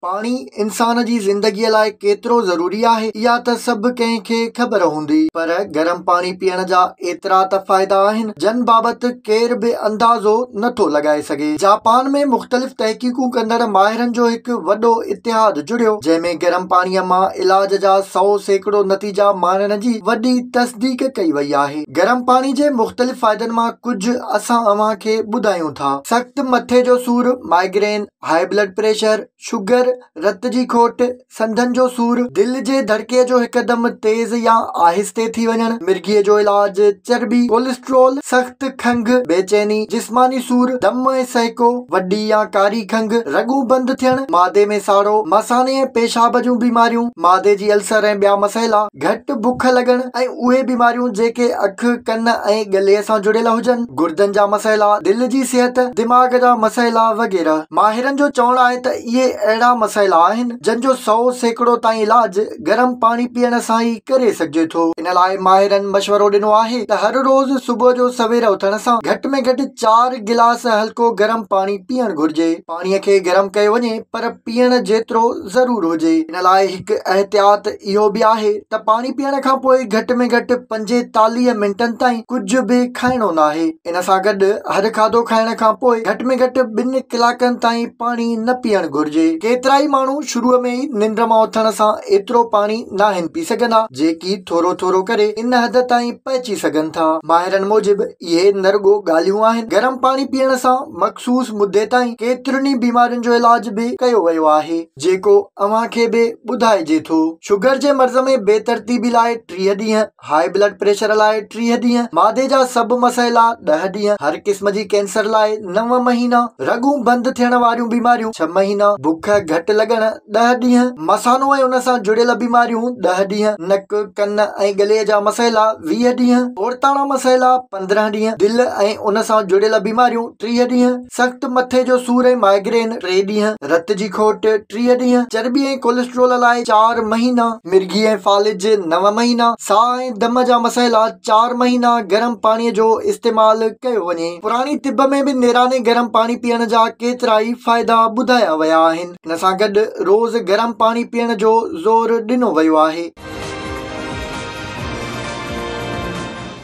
پاڻي انسان جي زندگيء لاء ڪيترو ضروري آهي، اها ته سڀ ڪنهن کي خبر هوندي، پر گرم پاڻي پيئڻ جا ايترا ته فائدا آهن، جن بابت ڪير به اندازو نه ٿو لڳائي سگهي. جاپان ۾ مختلف تحقيقون ڪندڙ ماهرن جو هڪ وڏو اتحاد جڙيو، جنهن ۾ گرم پاڻيء مان علاج جا سؤ سيڪڙو نتيجا ماڻڻ جي وڏي تصديق ڪئي وئي آهي. گرم پاڻي جي مختلف فائدن مان ڪجهه اسان اوهان کي ٻڌايون ٿا. سخت مٿي جو سور، Migraine، high blood pressure, sugar, رت جي کوٽ، سنڌن جو سور، دل جي ڌڙڪي جو هڪدم تيز يا آهستي ٿي وڃڻ، مرگي جو علاج، چرٻي، ڪولسٽرول، سخت کنگهه، بي چيني، جسماني سور، دم ۽ سهڪو، وڏي يا ڪاري کنگهه، رڳون بند ٿيڻ، معدي ۾ ساڙو، مثاني ۽ پيشاب جون بيماريون، معدي جي السر ۽ ٻيا مسئلا، گهٽ بک لڳڻ ۽ اهي بيماريون جيڪي اک، ڪن ۽ ڳلي سان جڙيل هجن. گردن جا مسئلا، دل جي صحت، دماغ جا مسئلا وغيره. ماهرن جو چوڻ آهي ته اهي اهڙا مسئلا آهن جن جو سؤ سيڪڙو تائين علاج گرم پاڻي پيئڻ سان ئي ڪري سگهجي ٿو. ان لاء ماهرن مشورو ڏنو آهي ته هر روز صبح جو سوير اٿڻ سان گهٽ ۾ گهٽ چار گلاس هلڪو گرم پاڻي پيئڻ گهرجي. پاڻي کي گرم ڪيو وڃي پر پيئڻ جيترو. ضرور هجي. ان لاء هڪ احتياط اهو به آهي ته پاڻي پيئڻ کان پوء گهٽ ۾ گهٽ پنجيتاليهه منٽن تائين ڪجهه به کائڻو ناهي. ان سان گڏ هر کاڌو کائڻ کان پوء گهٽ ۾ گهٽ ٻن ڪلاڪن تائين پاڻي نه پيئڻ گهرجي. ڪيترائي ماڻهو شروع ۾ ئي ننڊ مان اٿڻ سان ايترو پاڻي ناهن پي سگهندا، جيڪي ٿورو ٿورو ڪري ان حد تائين پهچي سگهن ٿا. ماهرن موجب اهي نه رڳو ڳالهيون آهن، گرم پاڻي پيئڻ سان مخصوص مدي تائين ڪيترين ئي بيمارين جو علاج به ڪيو ويو آهي، جيڪو اوهان کي به ٻڌائجي ٿو. شگر جي مرض ۾ بي ترتيبي لاء ٽيهه ڏينهن، هاء بلڊ پريشر لاء ٽيهه ڏينهن، معدي جا سڀ مسئ لا ڏهه ڏينهن، هر قسم جي ڪينسر لاء نو مهينا، رڳون بند ٿيڻ واريون بيماريون ڇهه مهينا، بک گهٽ لڳڻ ڏهه ڏينهن، مثانو ۽ ان سان جڙيل بيماريون، ڏهه ڏينهن، نڪ، ڪن ۽ ڳلي جا مسئلا، ويهه ڏينهن، عورتاڻا مسئلا، پندرهن ڏينهن، دل ۽ ان سان جڙيل بيماريون، ٽيهه ڏينهن، سخت مٿي جو سور ۽ مائگرين، ٽي ڏينهن، رت جي کوٽ، ٽيهه ڏينهن، چرٻي ۽ ڪولسٽرول لاء، چار مهينا، مرگي ۽ فالج، نو مهينا، ساهه ۽ دم جا مسئلا، چار مهينا، گرم پاڻي جو استعمال ڪيو وڃي. پراڻي طب ۾ به نيراني گرم پاڻي پيئڻ جا ڪيترائي فائدا ٻڌايا ويا آهن. ان سان گڏ روز گرم پاڻي پيئڻ جو زور ڏنو ويو آهي.